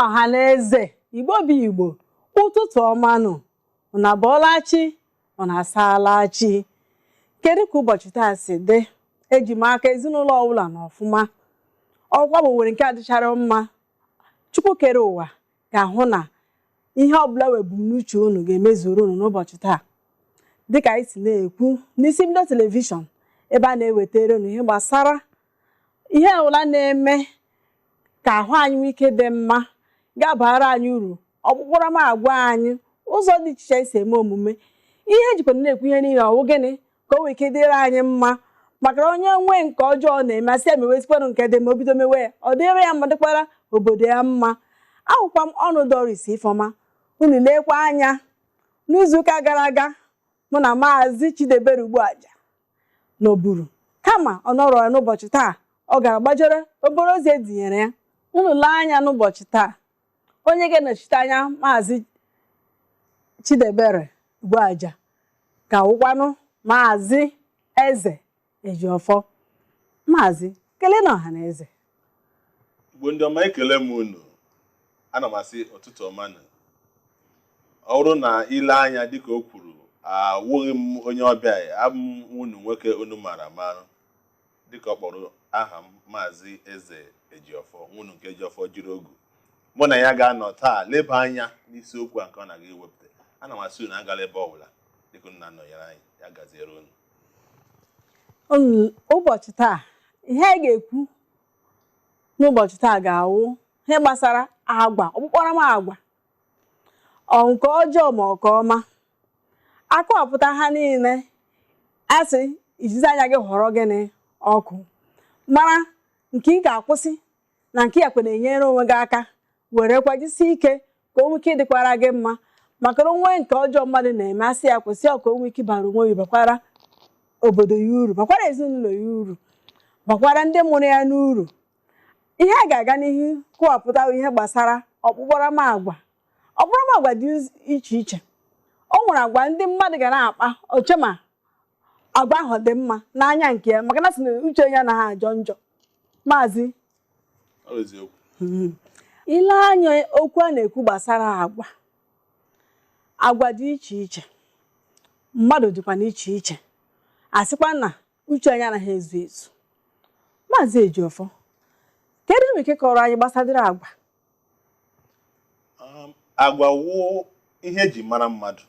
ọha na eze igbo bụ igbo ụtụtụ ọma nụ unu abọọla chi unu asaala chi kedu ka ụbọchị taa si dị eji m aka ezinụlọ ọbụla nọ ọfụma ọkwa bụ nwere nke adịchara mma chukwu kere ụwa ga-ahụ na ihe ọbụla wụ ebumnuche unu ga-emezuru unu n'ụbọchị taa dịka anyị si na-ekwu n'isi mbido telivishọn ebe a na-ewetara unu ihe gbasara ihe ọbụla na-eme ka ahụ anyị nwee ike dị mma ga-abara anyị uru ọkpụkparamagwa anyị ụzọ dị iche iche esi eme omume ihe ejikwa na-ekwu ihe niile ọ wụ gịnị ka o nwee ike dịrị anyị mma maka na onye nwee nke ọjọọ na-eme asị ya mewezikwanụ nke dị mma o bido mewe ya ọ dịrị ya mma dịkwara obodo ya mma awụkwa m Onu Doris Ifeoma unu lekwa anya n'izuụka gara aga mụ na maazị Chidebere Ugbuaja nọburu kama ọ nọrọ ya n'ụbọchị taa ọ gara gbajere obere ozi edinyere ya unu lee anya n'ụbọchị taa onye ga-anọchite anya maazị Chidebere Ugbuaja ga-awụkwanụ maazị Eze Ejiofor maazị keleenụ ọha na eze Igbo ndị ọma ekele m unu ana m asị ụtụtụ ọma nụ ọ bụrụ na i lee anya dịka o kwuru awụghị m onye ọbịa abụ m nwa unu nwoke unu mara amara dịka ọ kpọrọ aha m maazị eze ejiọfọ nwa unu nke eji ọfọ jiri ogu mụ na ya ga-anọ taa leba anya n'isiokwu a nke ọ na-aga iwepụta ana m asị unu agala ebe ọbụla dịka unu na-anọnyere anyị ya gaziere unu Olu- ụbọchị taa ihe anyị ga-ekwu n'ụbọchị taa ga-awụ ihe gbasara agwa ọkpụkparamagwa ọ nke ọjọọ ma ọ nke ọma akọwapụta ha niile asị ijizi anya gị họrọ gịnị ọkụ mara nke ị ga-akwụsị na nke ị gakwa na-enyere onwe gị aka werekwa jisie ike ka o nwee ike dịkwara gị mma maka na o nwee nke ọjọọ mmadụ na-eme asị ya kwụsị ọ ka o nwee ike bara onwe ya bakwara obodo ya uru bakwara ezinụlọ ya uru bakwara ndị mụrụ ya n'uru ihe a ga-aga n'ihu kọwapụta bụ ihe gbasara ọkpụkparamagwa ọkpụkparamagwa dị uz- iche iche o nwere agwa ndị mmadụ ga na-akpa o chee ma agwa ahụ dị mma n'anya nke ya maka na asị na uche ya anaghị ajọ njọ maazị hmm. i lee anya okwu a na-ekwu gbasara agwa agwa dị iche iche mmadụ dịkwa n'iche iche asịkwa na uche anyị anaghị ezu ezu maazị Ejiofor kedu ihe i nwere ike kọrọ anyị gbasara agwa um, agwa wụ ihe eji mara mmadụ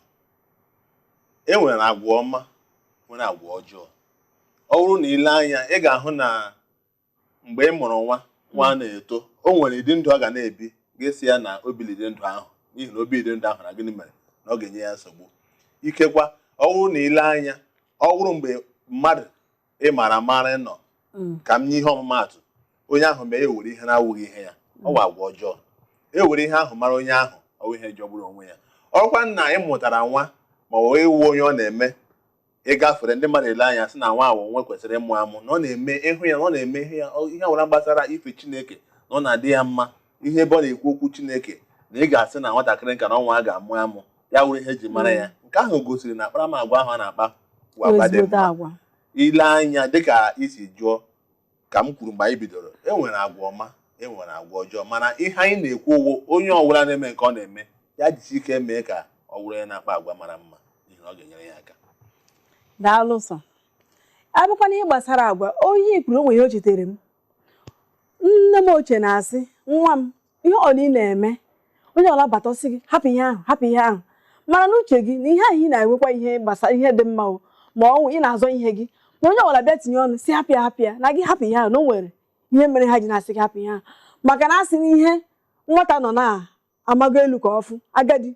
e nwere agwa ọma nwere agwa ọjọọ ọ wụrụ na i lee anya ị ga-ahụ na mgbe ị mụrụ nwa nwa hmm. na-eto o nwere ụdị ndụ ọ ga na-ebi ga-asị ya na o bilide ndụ ahụ n'ihi na o bilide ndụ ahụ na gịnị mere na ọ ga-enye ya nsogbu ikekwa ọ wụrụ na i lee anya ọ wụrụ mgbe mmadụ ị mara amara nọ mm. ka m nye ihe ọmụmaatụ onye ahụ mee ewere ihe na-awụghị ihe ya ọ mm. wụ agwa ọjọọ ewere ihe ahụ mara onye ahụ ọ wụ ihe jọgburu onwe ya ọkwa nna ị mụtara nwa ma ọ wụ ị wụ onye ọ na-eme ị gafere ndị mmadụ ele anya sị na nwa a wụ nwa e kwesịrị ịmụ amụ na ọ na-eme ị hụ ya na ọ na-eme ihe ya ihe ọbụla gbasara ife chineke na ọ na-adị ya mma ị hụ ebe ọ na-ekwu okwu chineke na ị ga-asị na nwatakịrị nka na ọ nwa a ga-amụ amụ ya wụrụ ihe eji mara ya nke ahụ gosiri na akparamagwa ahụ a na-akpa bụ agwa dị ezigbote mma agwa i lee anya dịka i si jụọ ka m kwuru mgbe anyị bidoro e nwere agwa ọma e nwere agwa ọjọọ mana ihe anyị na-ekwu wụ onye ọbụla na-eme nke ọ na-eme ya jisi ike mee ka ọ wụrụ ya na-akpa agwa mara mma n'ihi na ọ ga-enyere ya aka daalụ sọ abụkwa n'ihe gbasara agwa onye kwuru o nwe ihe o chetere m nne m ochie na-asị nwa m ihe ọ na ị na-eme onye ọwụla bata ọ sị gị hapụ ihe ahụ hapụ ihe ahụ mara n'uche gị na ihe ahụ ị na-enwekwa ihe gbasara ihe dị mma o ma ọ wụ ị na-azọ ihe gị ma onye ọbụla bịa tinye ọnụ sị hapụ ya hapụ ya na gị hapụ ihe ahụ na o nwere ihe mere ha ji na-asị gị hapụ ihe ahụ maka na a sị na ihe nwata nọ na-amago elu ka ọ fụ agadi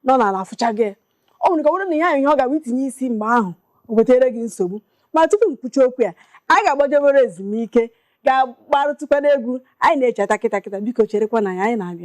nọ n'ala afụchago ya o nwere ike ọ bụrụ na ihe ahụ ihe ọ ga-abụ i tinye isi mgbe ahụ o wetara gị nsogbu ma tupu m kwuchaa okwu ya anyị ga-agbajebere ezumike ga-agbarụtụkwana egwu anyị na-echeta kịta kịta biko cherekwanụ anyị anyị na-abịa